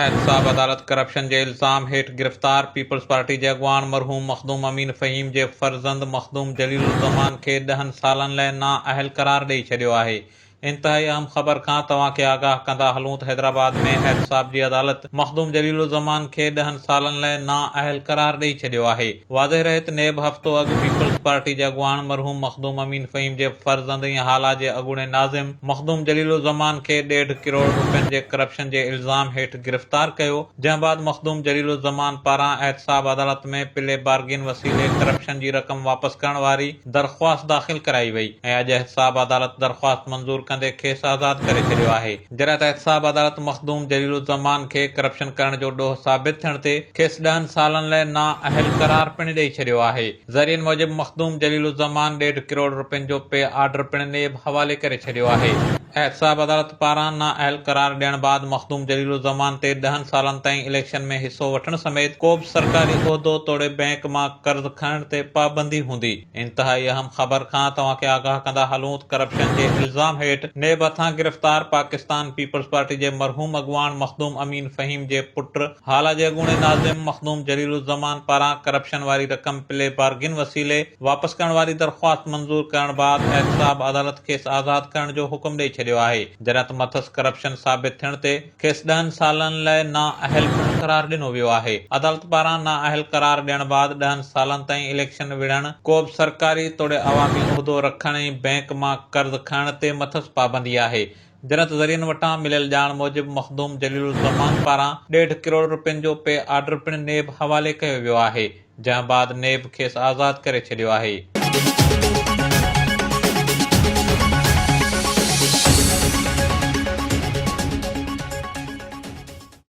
احتساب عدالت ڪرپشن جي الزام هيٺ گرفتار پيپلز پارٽي جي اڳواڻ مرحوم مخدوم امين فهيم جي فرزند مخدوم جليل الزمان کي ڏهن سالن لئه نااهل قرار ڏئي ڇڏيو آهي انتهائي اهم خبر کان توهان کي آگاهه ڪندا هلون ته حيدرآباد ۾ احتساب جي عدالت مخدوم جليل الزمان کي ڏهن سالن لاء نااهل قرار ڏئي ڇڏيو آهي. واضح رهي ته نيب هفتو اڳ پيپلز پارٽي جي اڳواڻ مرحوم مخدوم امين فهيم جي فرزند ۽ هالا جي اڳوڻي ناظم مخدوم جليل الزمان کي ڏيڍ ڪروڙ روپين جي ڪرپشن جي الزام هيٺ گرفتار ڪيو جنهن بعد مخدوم جليل الزمان پاران احتساب عدالت ۾ پلي بارگين وسيلي ڪرپشن جي رقم واپس ڪرڻ واري درخواست داخل ڪرائي وئي ۽ اڄ احتساب عدالت درخواست منظور ڪندي کيس آزاد ڪري ڇڏيو آهي جڏهن ته احتساب عدالت مخدوم جليل الزمان کي ڪرپشن ڪرڻ جو ڏوهه ثابت ٿيڻ تي کيس ڏهن سالن لئه نااهل قرار پڻ ڏئي ڇڏيو آهي. ذريعن موجب مخدوم جليل الزمان ڏيڍ ڪروڙ رپين جو پي آرڊر پڻ نيب حوالي ڪري ڇڏيو آهي، احتساب عدالت پاران نااهل قرار ڏيڻ بعد مخدوم جليل الزمان تي ڏهن سالن تائين اليڪشن ۾ حصو وٺڻ سميت ڪو به سرڪاري عهدو توڙي بئنڪ مان قرض کڻڻ تي پابندي هوندي، انتهائي اهم خبر کان توهان کي آگاهه ڪندا هلون ته ڪرپشن جي الزام هيٺ نيب هٿان گرفتار پاڪستان پيپلز پارٽي جي مرحوم اڳواڻ مخدوم امين فهيم جي پٽ هالا جي اڳوڻي ناظم مخدوم جليل الزمان پاران ڪرپشن واري رقم پلي بارگين وسيلي واپس ڪرڻ واري درخواست منظور ڪرڻ بعد احتساب عدالت کيس آزاد ڪرڻ جو حڪم ڏئي ڇڏيو آهي جڏهن ته مٿس ڪرپشن ثابت ٿيڻ تي کيس ڏهن سالن لئه نااهل پڻ قرار ڏنو ويو آهي عدالت پاران نااهل قرار ڏيڻ بعد ڏهن سالن تائين اليڪشن وڙهڻ، ڪوبه سرڪاري توڙي عوامي عهدو رکڻ ۽ بئنڪ مان قرض کڻڻ تي مٿس پابندي آهي جرت ذريعن وٽان مليل ڄاڻ موجب مخدوم جليل الزمان پاران ڏيڍ ڪروڙ رپين جو پي آرڊر پڻ نيب حوالي ڪيو ويو آهي جنهن بعد نيب کيس آزاد ڪري ڇڏيو آهي.